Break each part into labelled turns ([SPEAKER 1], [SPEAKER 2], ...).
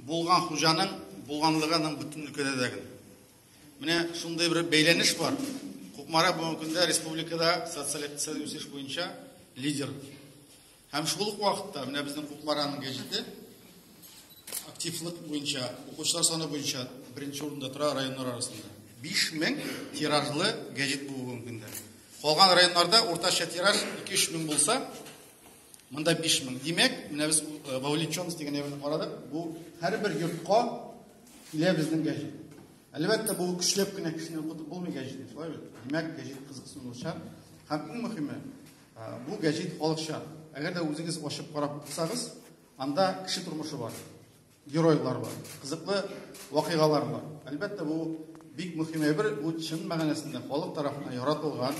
[SPEAKER 1] Булган хуҗаның булганлыгының бөтен өлкәдә дә гел. Менә шундый бер бәйләнеш бар. Кукмара бүгенге көндә республикада социаль-икътисадый үсеш буенча лидер. Һәм шул ук вакытта менә безнең Кукмараның гәҗите активлык буенча, укучылар саны буенча беренче урында тора районнар арасында. 5000 тиражлы гәҗит бу бүгенге көндә. Калган районнарда уртача тираж 2-3 мең булса, Монда 5000. Димәк, менә без э, вовлеченность дигән әйберне карадык. Бу һәрбер йортка килә безнең гәҗит. Әлбәттә, бу көчләп кенә кешене укытып булмый гәҗитне, шулай бит? Димәк, гәҗит кызыксынучан һәм иң мөһиме, э, бу гәҗит халыкча. Әгәр дә үзегез ачып карап укысагыз, анда кеше тормышы бар. геройлар бар, кызыклы вакыйгалар бар. Әлбәттә, бу бик мөһим әйбер, бу чын мәгънәсендә халык тарафыннан яратылган,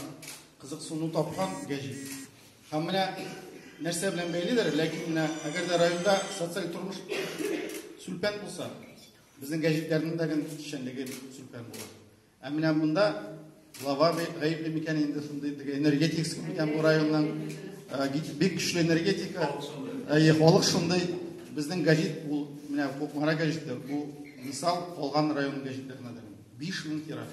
[SPEAKER 1] кызыксыну тапкан гәҗит. Һәм менә нәрсә белән бәйледер, ләкин менә әгәр дә районда социаль тормыш сүлпән булса, безнең гәҗитләрнең дә эшчәнлеге сүлпән була. Ә менә монда глава гаепле микән инде шундый теге энергетикс микән бу районның бик көчле энергетика. Әйе, халык шундый. Безнең газет ул менә Кукмара газеты, бу мисал калган район газетләренә дә. 5000 тираж.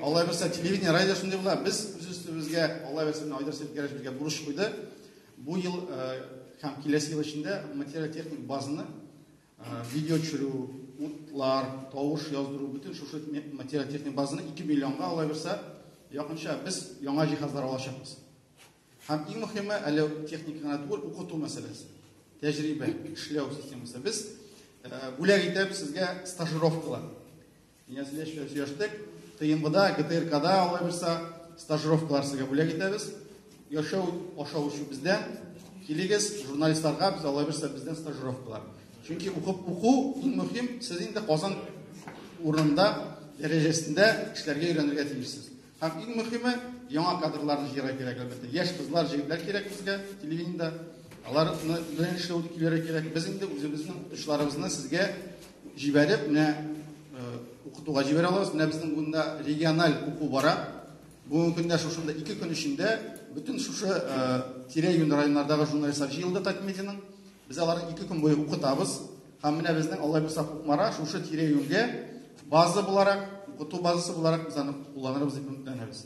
[SPEAKER 1] Алла бирсә телевидение, радио шундый була. Без үз үстебезгә Алла бирсә Айдар Сәйдгәрәш безгә бурыч куйды. Бу ел һәм киләсе ел эчендә материаль техник базаны Видео төшерү, утлар, тавыш яздыру, бөтен шушы материаль-техник базаны 2 миллионга алаберсә, якынча без яңа җиһазлар алачакбыз. Һәм иң мөһиме, әле техника гына түгел, укыту мәсьәләсе. Тәҗрибә, эшләү системасы. Без бүләк итәбез сезгә стажировкалар. Инәсенә эшпен сөяштек. Тыйымгыда ГТРКда алай булса стажировкалар сезгә бүләк итәбез. Яшәү аша үсү бездән. Килегез журналистларга без алай булса бездән стажировкалар. Чөнки укып уку иң мөһим, сез инде Казан урынында дәрәҗәсендә эшләргә өйрәнергә тиешсез. Һәм иң мөхиме, яңа кадрларны җыярга кирәк, әлбәттә. Яшь кызлар, җегетләр кирәк безгә телевидениедә. Аларны белән эшләү килергә кирәк. Без инде үзебезнең отышларыбызны сезгә җибәреп, менә э, укытуга җибәрә алабыз. Менә безнең монда региональ уку бара. Бүгенге көндә шушында ике көн эчендә бөтен шушы э, тирә-юнь районнардагы журналистлар җыелды Татмедианың. Без аларны ике көн буе укытабыз. Һәм менә безнең Аллаһ булса Кукмара шушы тирә-юньгә база буларак, укыту базасы буларак без аны кулланырбыз дип өметләнәбез.